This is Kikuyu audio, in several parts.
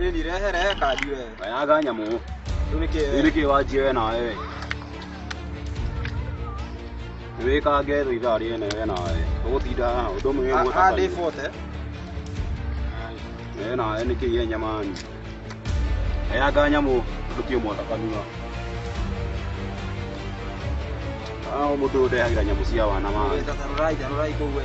Ĩ ni rehe rehe kandi we. Wayaga nyamũ. Rĩu nĩkĩ Rĩu nĩkĩ wanjie we na wewe? Nĩwĩkange thũ ithaa rĩene we na wewe. Ũgũtinda haha ũndũ ũmwe wĩguo ta Handĩ kahiũ. bote. We na wewe nĩkĩ ye nyamani? Wayaga nyamũ ndũkĩ mwaka kanua. Ah, mũndũ ũndehagĩra nyamũ cia wana maĩ. Tarũrai tarũrai kũu we.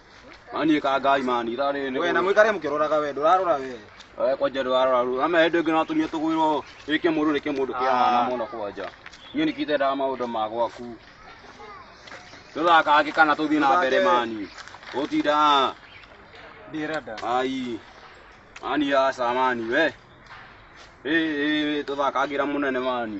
Manyikangai manira rĩrĩ. Wee na mũikare mũkĩroraga wee ndũrarora wee. Wee kwanja ndũrarora rĩu. Ama hĩndĩ ĩngĩ no atumia tũgwĩrwo ĩ kĩmũndũ nĩ kĩmũndũ kĩa mwana Ah. mũno kwanja. Niĩ nĩkĩ itendaga maũndũ ma gwaku. Tũthakange kana tũthiĩ na mbere Tũthake. mani. Gũtinda Ndirenda. ai. Mani aca mani we. Ĩ ĩ tũthakangĩra mũnene mani.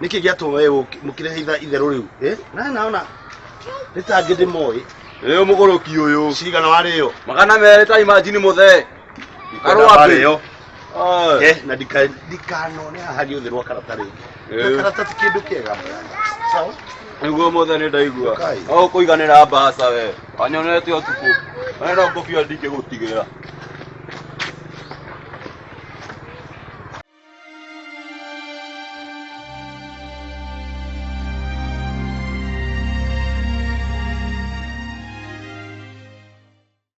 niki giatuma we mukirehitha itheru riu eh? na naona nitangi ndimoe riu muguruki uyu cigana wariyo magana meri ta imajini muthe arwario eh, na ndikanone haha giuthi rwa karata ringi eh. karata ti kindu kiega sawa niguo mothe nä ndaigua o kå iganä ra mbaca we anyonete å tukå arenda ngå bia ndingä gå tigä ra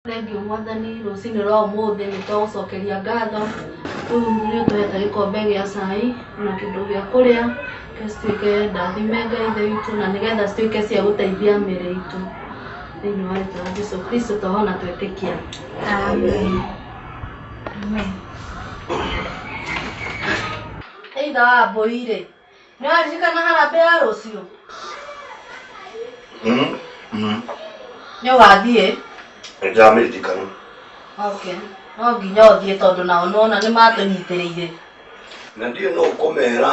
Thengiũ mwathani rũcinĩ rwa ũmũthĩ nĩ twagũcokeria ngatho rĩu nĩ ũtũhete gĩkombe gĩa cai na kĩndũ gĩa kũrĩa nĩgetha cituĩke ndathime Ngai ithe witũ na nĩgetha cituĩke cia gũteithia mĩĩrĩ itũ thĩinĩ wa rĩtwa rĩa Jesũ Kristo tũhona twetĩkia. Amen. Either wa mbũri rĩ nĩ waririkana harambĩ ya rũciũ nĩ wathiĩ nĩndĩramĩririkana okay no nginya ũthiĩ tondũ nao nĩwona nĩ matũnyitĩrĩire na ndiũĩ no ũkũmera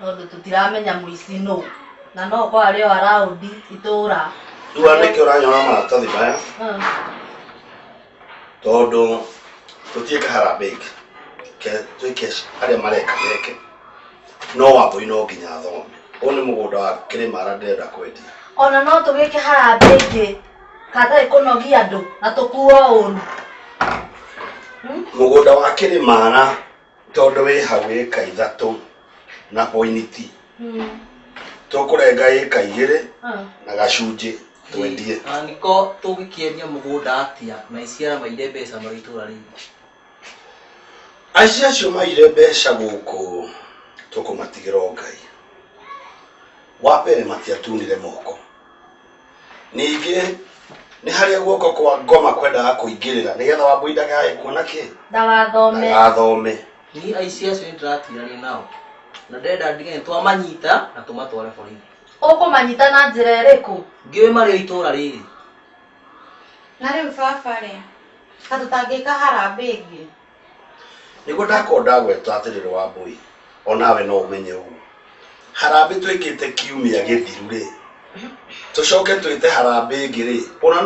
tondũ tũtiramenya mũici nũ na no ũkorwo arĩ o araũndi itũũra rĩu andũ aingĩ ũranyona maratathi maya tondũ tũtiĩka harambee ingĩ Ke- twĩke arĩa mareka meke no wambũi no nginya athome ũyũ nĩ mũgũnda wa kĩrĩmara ndĩrenda kwendia ona no tũgĩke harambĩ ingĩ hatarĩ kũnogia andũ na tũkuo ũru mũgũnda wa kĩrĩmara tondũ wĩ hau ĩka ithatũ na poiniti tũkũrenga ĩka igĩrĩ na gacunjĩ twendie angĩko tũngĩkĩendia mũgũnda atĩa na iciara maire mbeca marĩ itũra rĩu aici acio maire mbeca gũkũ tũkũmatigĩra o ngai wa mbere matiatunire moko Ningĩ nĩ harĩa guoko kwa ngoma kwendaga kũingĩrĩra nĩgetha wambui ndagae kuona kĩ Ndagathome. ndagathome Niĩ aici acio nĩndĩratiganire nao na ndĩrenda ndige nĩtwamanyita na tũmatware borithi. Ũkũmanyita na njĩra ĩrĩkũ? Ndiũĩ marĩ o itũũra rĩrĩ. Na rĩu baba rĩ, ta tũtangĩka harambĩ ĩngĩ? Nĩguo ndakorwo ndagweta atĩ ndĩrĩ Wambũi, o nawe no ũmenye ũguo. Harambĩ twĩkĩte kiumia gĩthiru rĩ, tũcoke twĩte harambĩ ĩngĩ rĩ, ũna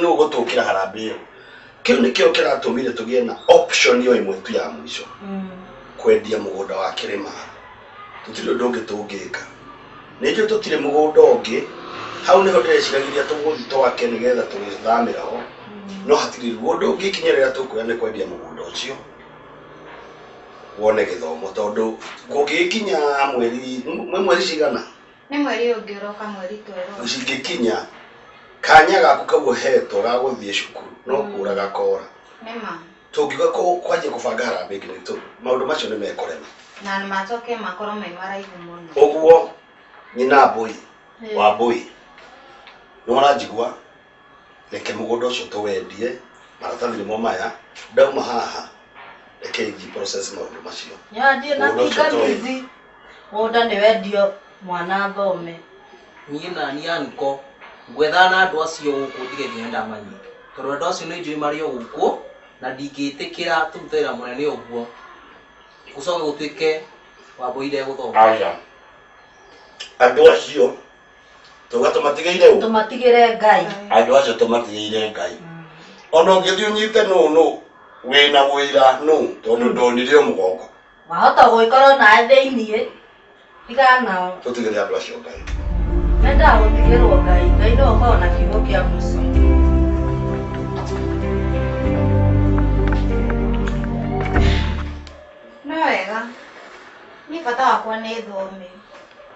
nũ ũgũtũkĩra harambĩ ĩyo? Kĩu nĩkĩo kĩratũmire tũgĩe na option o ĩmwe tu ya mũico, kwendia mũgũnda wa Kĩrĩma. tũtirĩ ũndũ ũngĩ tũngĩka. Ningĩ tũtirĩ mũgũnda ũngĩ, hau nĩho ndĩreciragĩria tũgũthi twake nĩgetha tũgĩthamĩra ho, no hatirĩ rĩu. Ũndũ ũngĩ ikinya rĩrĩa tũkuoya nĩ kwendia mũgũnda ũcio, wone gĩthomo tondũ kũngĩgĩkinya mweri, nĩ mweri cigana? Nĩ mweri ũyũ ũngĩ ũroka mweri twerũ. Cingĩkinya, kanya gaku kau ũhetwo ga gũthiĩ cukuru no kũũra gakoora. Nĩ ma. Tũngiuga kũ, kwanjia kũbanga harambĩ ĩngĩ nĩ tũ, maũndũ macio nĩ mekũrema. Na macoke makorwo me maraihu mũno. Ũguo nyina Mbũi wa Mbũi, nĩ wona njigua, reke mũgũnda ũcio tũwendie, maratathi nĩmo maya, ndauma haha reke thiĩ process maũndũ macio. Mũgũnda ũcio tũwendie. Mũgũnda nĩ wendio mwana athome. Niĩ naniĩ anko ngwethana na andũ acio gũkũ ndige nginya ndamanyita tondũ andũ acio nĩ njũĩ marĩ o gũkũ na ndingĩtĩkĩra tũrute wĩra mũnene ũguo gũcoke gũtuĩke Wambũi ndegũthoma. Aya andũ acio twauga tũmatigĩire ũ? Tũmatigĩre Ngai. Andũ acio tũmatigĩire Ngai. Ona ũngĩthiĩ ũnyite nũ nũ wĩna ũira nũ tondũ ndonire o mũgongo. Wahota gũgĩkorwo nawe thĩiniĩ, tigana nao. Tũtigĩre andũ acio Ngai. Mendaga gũtigĩrwo Ngai. Ngai nĩwe ũkoragwo na kiugo kĩa mũico. No wega. Niĩ bata wakwa nĩ thome.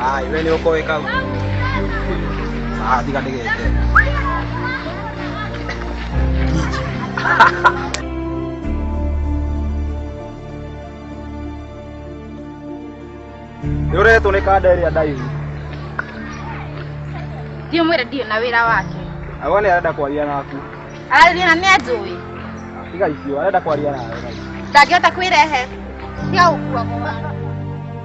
Hai, we ni uko weka huko. Ah, tiga ndege yete. Yore tu ni kada area dive. Ndio mwira ndio na wira wake. Awone arenda kwaria naku. Arathina ni ajui. Tiga icio, arenda kwaria nawe. Ndangĩhota kwĩrehe. Cia ũkua mũwa.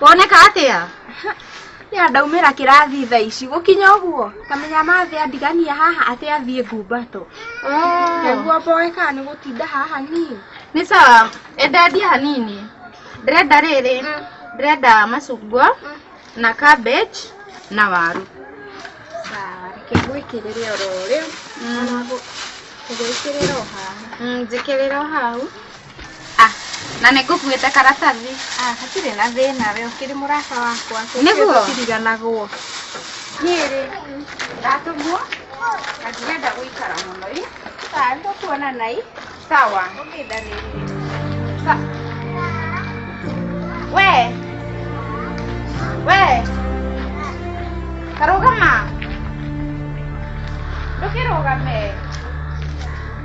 woneka atĩa ya ndaumĩra kĩrathi tha ici gũkinya ũguo kamenya mathĩ andigania haha atĩ athiĩ ngumbato nĩguo mboe kana nĩ gũtinda haha niĩ nĩ sawa endendia hanini ndĩrenda rĩrĩ ndĩrenda macungwa na cabbage na waru sawa reke ngwĩkĩrĩre oro rĩu ona ngũgwĩkĩrĩra o haha njĩkĩrĩra o hau Ah, na nĩ ngũkuĩte karatathi. Ah, hatirĩ na thĩna we ũkĩrĩ mũrata wakwa. Nĩguo? Tũtiriganagwo. Niĩ rĩ, ndatũmwo na ndirenda gũikara mũno ĩ. Ah, tũkuonana ĩ. Sawa. Okay, darling. Sa we we karũgama ndũkĩrũgame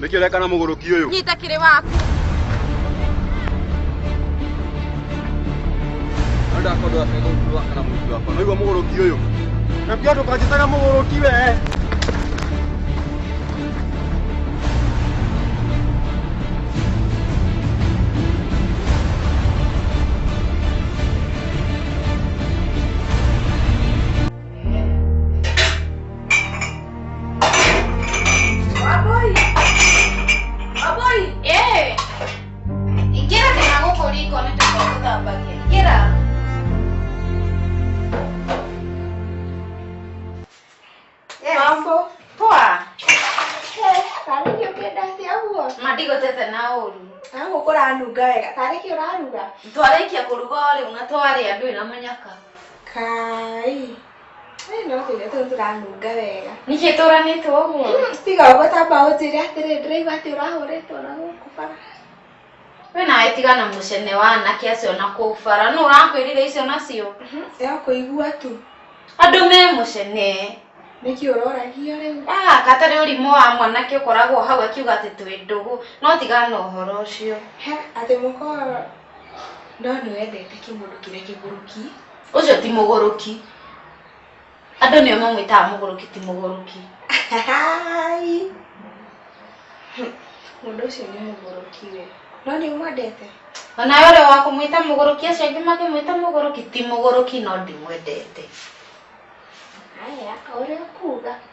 Nĩkĩ ũreka na mũgũrũki ũyũ? Nyita kĩrĩ waku. No ndakorwo akega ũthiũ wakwa na mũtu wakwa. Noigua mũgũrũki ũyũ? Na pia ndũkanjĩtaga mũgũrũki we. Wamboi! Wamboi! Eh! Ingĩra kana gũkũ riko nĩ tũkwa gũthambagia. Ingĩra. Mambo. Poa. Tarĩ kĩ ũkĩndate ũguo? Ma ndigũtete na ũru. Na gũkũ ũranunga wega. Tarĩ kĩ ũraruga? Twarĩkia kũruga rĩu na twarĩa ndũrĩ na mũnyaka. kai Ĩ, no tuge tũ tũranunga wega ningĩ tũranĩtwo ũguo tiga ũguo tamba ũnjĩre atĩrĩ ndĩraigua atĩ ũrahũrĩtwo na gũkũ bara we nawe tiga na mũcene wa anake acio na kũu bara nũ ũrakwĩrire icio nacio ya kũigua tu andũ me mũcene nĩkĩ ũroragia rĩu Ah, katarĩ ũrimũ wa mwanake ũkoragwo hau akiuga atĩ twĩ ndũgũ no tiga na ũhoro ũcio he atĩ mũkorwo Ndona wendete kĩmũndũ kĩrĩa kĩgũrũki. Ũcio ti mũgũrũki. Andũ nĩo mamwĩtaga mũgũrũki ti mũgũrũki. Mũndũ ũcio nĩ mũgũrũki we. No nĩ mwendete? Onawe ũrĩa wa kũmwĩta mũgũrũki acio angĩ makĩmwĩta mũgũrũki ti mũgũrũki no ndimwendete. Haya, o ũrĩa ũkuga.